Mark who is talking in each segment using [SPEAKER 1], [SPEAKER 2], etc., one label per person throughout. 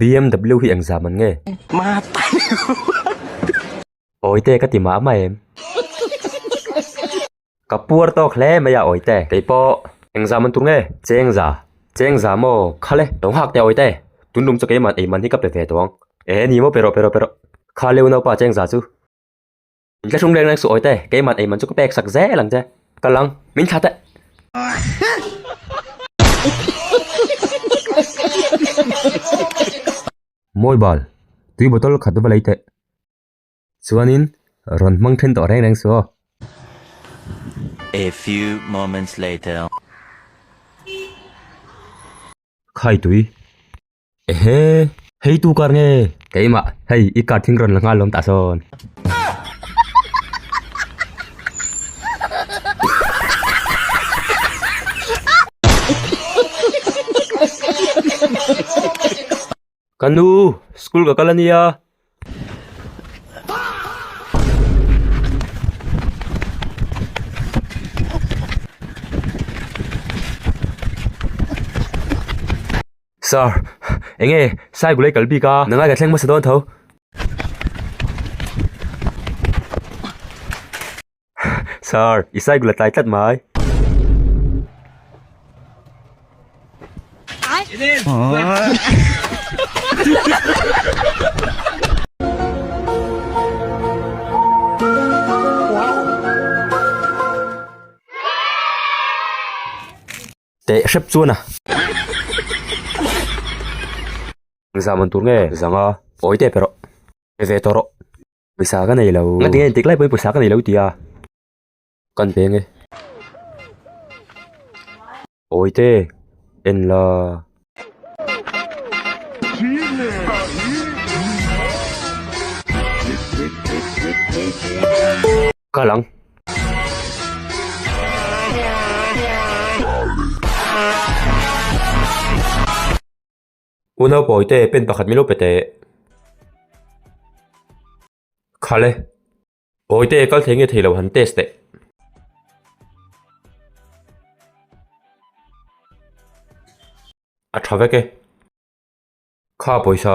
[SPEAKER 1] BMW hi eng zam an nge? Awite ka ti mah mah em. Ka puar tawk hle mai a Awite. Kei pawh eng zam an tur nge? Chengza, chengza maw kha le. Lo nghak teh Awite. Tundum chu keiman eiman hi ka pe ve tawh ang. Ee ni maw pe rawh pe rawh pe rawh. Kha leu naupa chengza chu. Ka hrum reng reng suh awite, keiman eiman chu ka pek sak zel ang che. Ka lang, min thla teh. Mawi bal, tui bottle khat va lei teh. Chuanin rawn hmang then tawh reng reng suh aw. A few moments later. Khaitui. Ehe! Hei tu kar nge? Keimah, hei i kar thing rawn la nghal lawm tah sawn. Ka nu, school ka kal a nia. Sir, eng nge Sai Gulei kal bik a, nangai ka thleng hmasa dawn tho. Sir, i Sai Gula tlai tlat mai. Teh hrep chuan a. Zam an tur nge zanga awi tep e rawh. Pe ve tawh rawh. Pawisa ka nei lo. Nga tinge intik lai pawhin pawisa ka nei lo tia. Kan pe nge. Awi te en la. kal ang. Unau pawi te pen pakhat min lo pe teh. Khale. Pawi te kal thei nge thei lo han test teh. A tha vek e. Kha pawisa.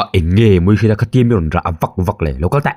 [SPEAKER 1] a eng nge mawii hriat a khatiam hi a rawn rah a vak vak leh local teh.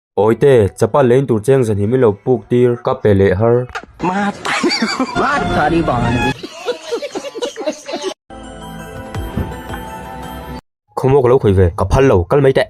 [SPEAKER 1] Awite, chapa lein tur cheng zan hi min lo puk tir ka pe leh har. Khawmuak lo khawih ve, ka phal lo kal mai teh.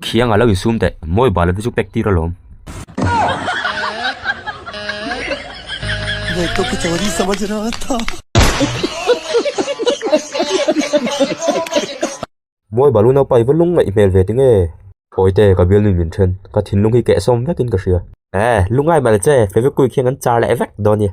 [SPEAKER 1] Khiang alo in sum teh mawi bala te chu pek tir alawm. Nei to ki chawri sama chu ra ta. Mawi balu naupa i va lung ngaih hmel ve ting e. Pawi te ka bialnu min then ka thinlung hi keh sawm vekin ka hria. Ee lu ngai mah le che Fevicwick hian kan char leh vek dawn nia.